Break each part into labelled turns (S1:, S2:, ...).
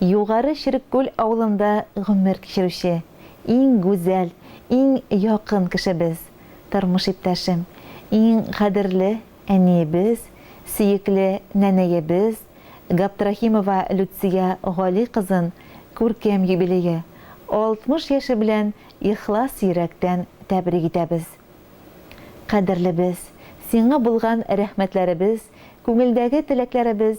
S1: Югары Череккүл авылында гомер кичерүче, иң гүзәл, иң якын кешебез, тормыш иптәшем, иң кадерле әниебез, сөекле нәнәебез Габдрахимова Люция Гали кызын күркәм юбилее, 60 яше белән ихлас йөрәктән тәбрик итәбез. Кадерлебез, сиңа булган рәхмәтләребез, күңелдәге теләкләребез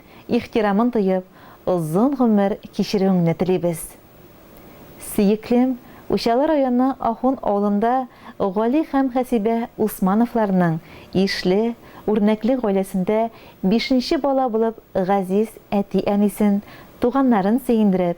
S1: ихтирамын тоеп, озын гомер кичерүеңне телибез. Сөеклем, Учалы районы Ахун авылында Гали һәм Хәсибә Усмановларның ишле, үрнәкле гаиләсендә бишенче бала булып газиз әти-әнисен, туганнарын сөендереп,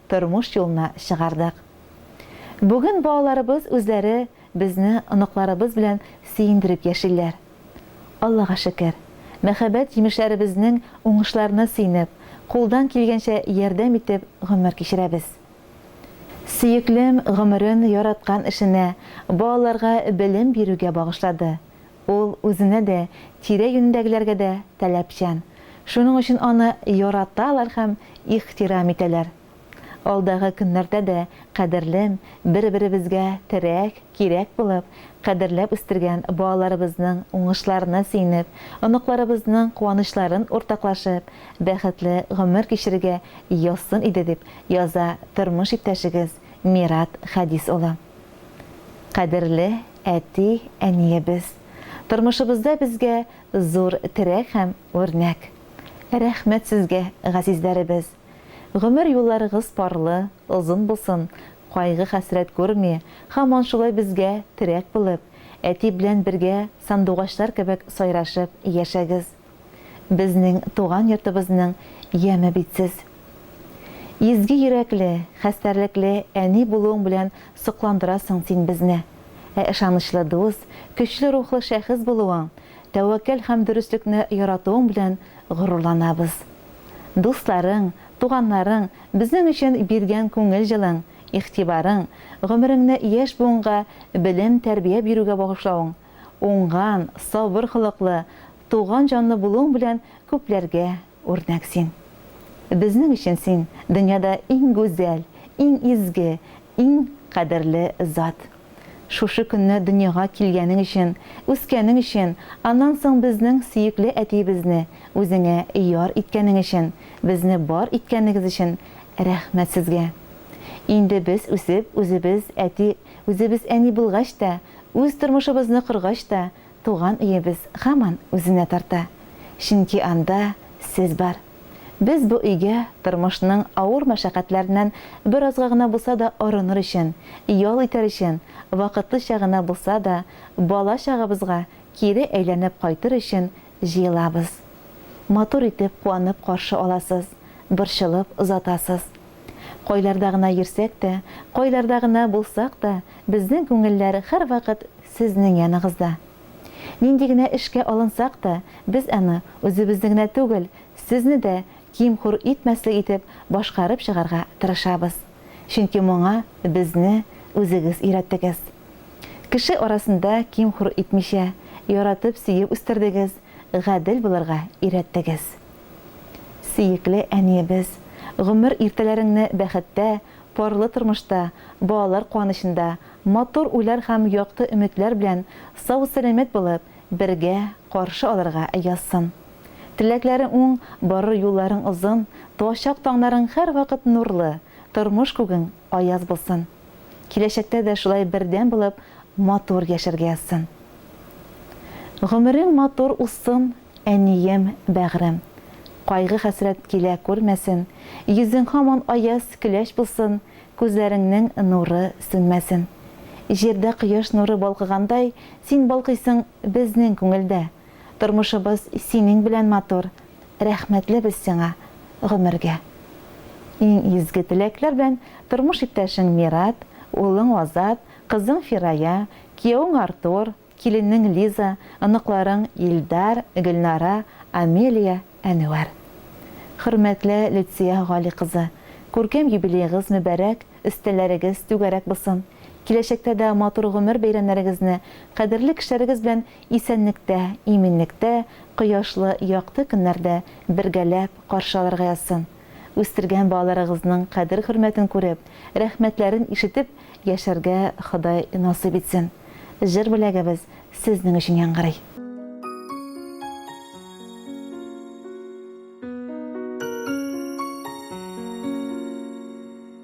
S1: тормыш юлына чыгардык. Бүген балаларыбыз үзләре безне оныкларыбыз белән сөендереп яшиләр. Аллага шөкер, мәхәббәт җимешләребезнең уңышларына сөенеп, кулдан килгәнчә ярдәм итеп гомер кичерәбез. Сөеклем гомерен яраткан эшенә, балаларга белем бирүгә багышлады, Ул үзенә дә, тирә-юнендәгеләргә дә таләпчән. Шуның өчен аны яраталар һәм ихтирам итәләр. Алдагы көннәрдә дә кадерлем, бер-беребезгә терәк, кирәк булып, кадерләп үстергән балаларыбызның уңышларына сөенеп, оныкларыбызның куанычларын уртаклашып, бәхетле гомер кичерергә язсын иде, дип яза тормыш иптәшегез Мират Хәдис улы. Кадерле әти, әниебез, тормышыбызда безгә зур терәк һәм үрнәк. Рәхмәт сезгә, газизләребез! Гомер юлларыгыз парлы, озын булсын, кайгы-хәсрәт күрми, һаман шулай безгә терәк булып, әти белән бергә сандугачлар кебек сайрашып яшәгез! Безнең туган йортыбызның яме бит сез. Изге йөрәкле, хәстәрлекле әни булуың белән сокландырасың син безне. Ә ышанычлы дус, көчле рухлы шәхес булуың, тәвәккәл һәм дөреслекне яратуың белән горурланабыз. Дусларың, туганнарың безнең өчен биргән күңел җылың, игътибарың, гомереңне яшь буынга белем, тәрбия бирүгә багышлавың, уңган, сабыр холыклы, туган җанлы булуың белән күпләргә үрнәк син. Безнең өчен син, дөньяда иң гүзәл, иң изге, иң кадерле зат. Шушы көнне дөньяга килгәнең өчен, үскәнең өчен, аннан соң безнең сөекле әтиебезне үзеңә яр иткәнең өчен, безне бар иткәнегез өчен рәхмәт сезгә. Инде без үсеп, үзебез әти Үзебез әни булгач та, үз тормышыбызны коргач та, туган өебез һаман үзенә тарта. Чөнки анда сез бар. Без бу өйгә тормышның авыр мәшәкатьләреннән беразга гына булса да арыныр өчен, ял итәр өчен, вакытлыча гына булса да бала-чагабызга кире әйләнеп кайтыр өчен Җыелабыз. Матур итеп, куанып каршы аласыз, борчылып озатасыз. Кайларда гына йөрсәк тә, кайларда гына булсак та, безнең күңелләр һәрвакыт сезнең яныгызда. Нинди генә эшкә алынсак та, без аны үзебезне генә түгел, сезне дә ким-хур итмәслек итеп башкарып чыгарга тырышабыз. Чөнки моңа безне үзегез өйрәттегез. Кеше арасында ким-хур итмичә, яратып, сөеп үстердегез, гадел булырга өйрәттегез. Сөекле әниебез, гомер иртәләреңне бәхеттә, парлы тормышта, балалар куанычында, матур уйлар һәм якты өметләр белән сау-сәламәт булып, бергә каршы алырга язсын. Теләкләрең уң, барыр юлларың озын, туачак таңнарың һәрвакыт нурлы, тормыш күгең аяз булсын, киләчәктә дә шулай бердәм булып матур яшәргә язсын. Гомерең матур узсын, әнием, бәгърем. Кайгы-хәсрәт килә күрмәсен, йөзең һаман аяз көләч булсын, күзләреңнең нуры сүнмәсен. Җирдә кояш нуры балкыгандай, син балкыйсың безнең күңелдә. Тормышыбыз синең белән матур, Рәхмәтле без сиңа гомергә. Иң изге теләкләр белән тормыш иптәшең Мират, улың Азат, кызың Фирая, киявең Артур, киленең Лиза, оныкларың Илдар, Гөлнара, Амелия, Әнвәр. Хөрмәтле Люция Гали кызы, күркәм юбилеегыз мөбәрәк, өстәлләрегез түгәрәк булсын, киләчәктә дә матур гомер бәйрәмнәрегезне кадерле кешеләрегез белән исәнлектә, иминлектә, кояшлы, якты көннәрдә бергәләп каршы алырга язсын. Үстергән балаларыгызның кадер-хөрмәтен күреп, рәхмәтләрен ишетеп яшәргә Ходай насыйп итсен. Җыр бүләгебез сезнең өчен яңгырый.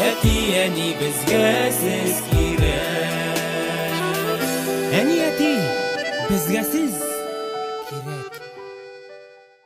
S1: Әти, әни, безгә сез кирәк. Әни, әти, безгә сез